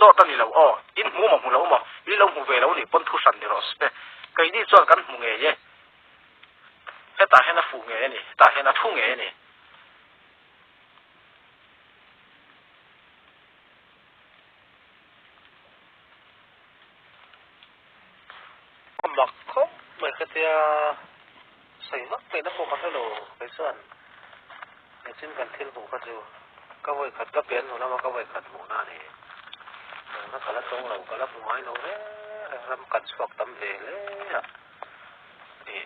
Dawt a ni lo aw, in hmu maw hmu lo maw, in lo hmu ve lo ni pawn thu hran ni rawh se. Keini chuan kan hmu ngei e, hetah hian a fuh ngei a ni, hetah hian a thu ngei a ni. Ka mak khawp mai ka tia, sawi mak mai na pawh ka hre lo. Kei chuan nichin kan thil hmuh kha chu ka vawikhat ka pian hnu lama ka vawikhat hmuh na a ni. Eng kha ka la tawng lo, ka la hmu ngai lo reng reng ram kan chhuak tam ve hle a ni.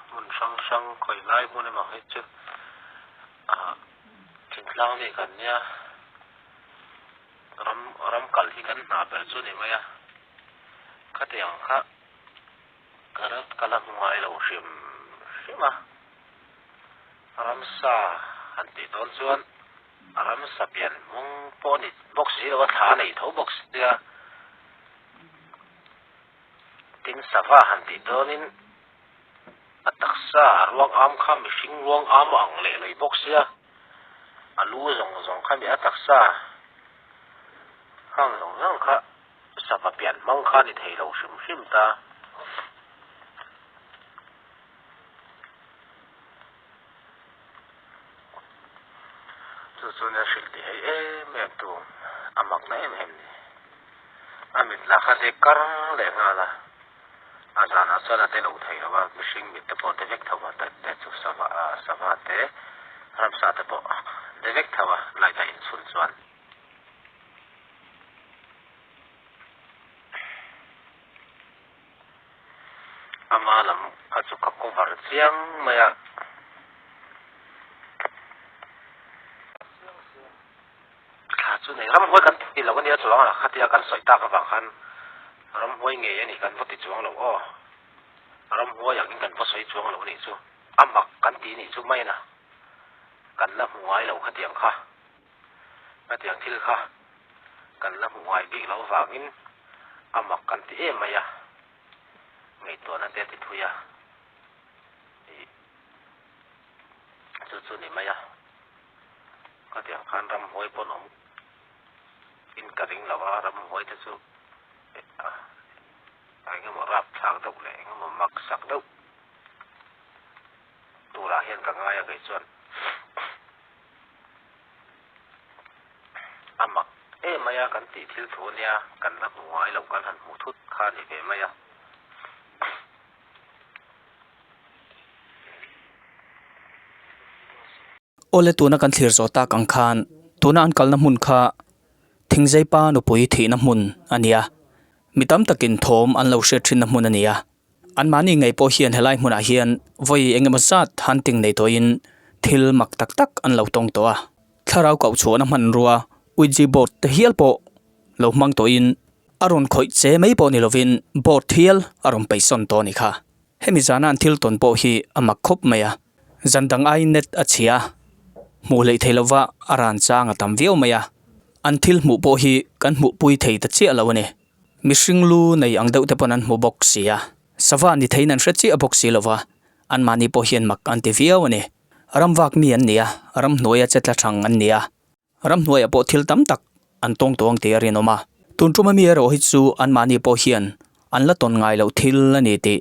Hmun hrang hrang khawi lai hmun emaw hi chu thinhlang nih kan nia. Ram ram kal hi kan hna ber chu ni mai a, khati ang kha ka rat ka la hnuai lo hrim hrim a, ramsa han tih dawn chuan ramsa pian hmawng pawh a ni bawk si lo a, thla a nei tho bawk si nia, tin sava han tih dawnin a taksa a ruang am kha mihring ruang am a ang leh lei bawk sia. A lu zawng zawng kha nia taksa hang zawng zawng kha sava pian hmang kha ni thei lo hrim hrim ta. Chu chuan a hrilh ti hei em em tu a makna em em ni. A mitlak kha hlek karng leh nghal a. A zânah chuan a tilo thei lo a, mihring mite pawh Devek Thova têt têt chu sava a, sava te, ramsa te pawh Devek Thova light a inchhun chuan. A hma lam kha chu ka cover chiang mai a. Thla chu nei ram huai kan ti lo a nia chuang a, khatia kan sawi tak avang khan ram huai ngei a nih kan va ti chuang lo aw, ram huai angin kan va sawi chuang lo a nih chu a mak kan ti nih chu maina kan la hmu ngai lo khatiang kha, khatiang thil kha kan la hmu ngai bik lo vangin a mak kan ti em mai a, ngaihtuahna te a ti phui a ni. Chu chu ni mai a, khatiang khan ramhuai pawn awm in ka ring lo a, ramhuai te chu eng emaw rap thlak deuh leh eng emaw mak sak deuh turah hian ka ngai a kei chuan a mak em mai a kan tih thil thu ania kan la hmu ngai loh kan han hmu thut kha ni ve mai a. Aw le tuna kan thlir zawh tak ang khan tuna an kalna hmun kha Thingzeipa nupui thihna hmun a ni a, mi tam takin thawm an lo hriat thinna hmun a ni a. Anmahni ngei pawh hian helai hmunah hian vawi eng emaw zat hunting nei tawhin thil mak tak tak an lo tawng tawh a. Thlarau koh chhuahna hmanrua Ouija board te hial pawh lo hmang tawhin a rawn khawih che mai pawh ni lovin bawt thial a rawn peisawn tawh a ni kha. Hemi zana an thil tawn pawh hi a mak khawp mai a, zan dang ai net a chhia a, hmuh hleih thei lova a ran chang a tam viau mai a, an thil hmuh pawh hi kan hmuh pui thei ta chiah lo a ni. Mihring lu nei ang deuh te pawn an hmu bawk si a, sava ni theiin an hre chiah bawk si lova anmahni pawh hian mak an ti viau a ni. Ram vak mi an ni a, ram hnuaia che tla thang an ni a. Ram hnuaiah pawh thil tam tak an tawng tawh ang tih a rinawm a. Tun tuma mi erawh hi chu anmahni pawh hian an la tawn ngai loh thil a ni tih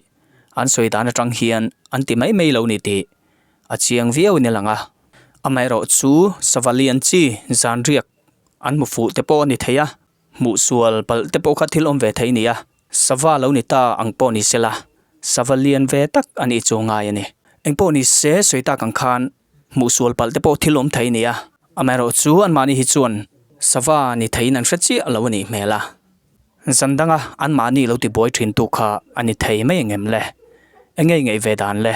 an sawi dan atang hian an ti mai mai lo ni tih a chiang viau in a lang a. Amaherawh chu savali an chi zanriak an hmu fuh te pawh a ni thei a, hmuhsual palh te pawh kha thil awm ve thei a ni a. Sava lo ni ta ang pawh ni sela, sava lian ve tak a nih chu a ngai a ni. Engpawh ni se sawi tak ang khan Hmuhsual palh te pawh thil awm thei nia. Amaherawh chu anmahni hi chuan sava ni theihin an hre chiah lo a nih hmel a. Zan danga anmahni lo ti buai thintu kha a ni thei mai engem le? Eng nge i ngeih ve dan le?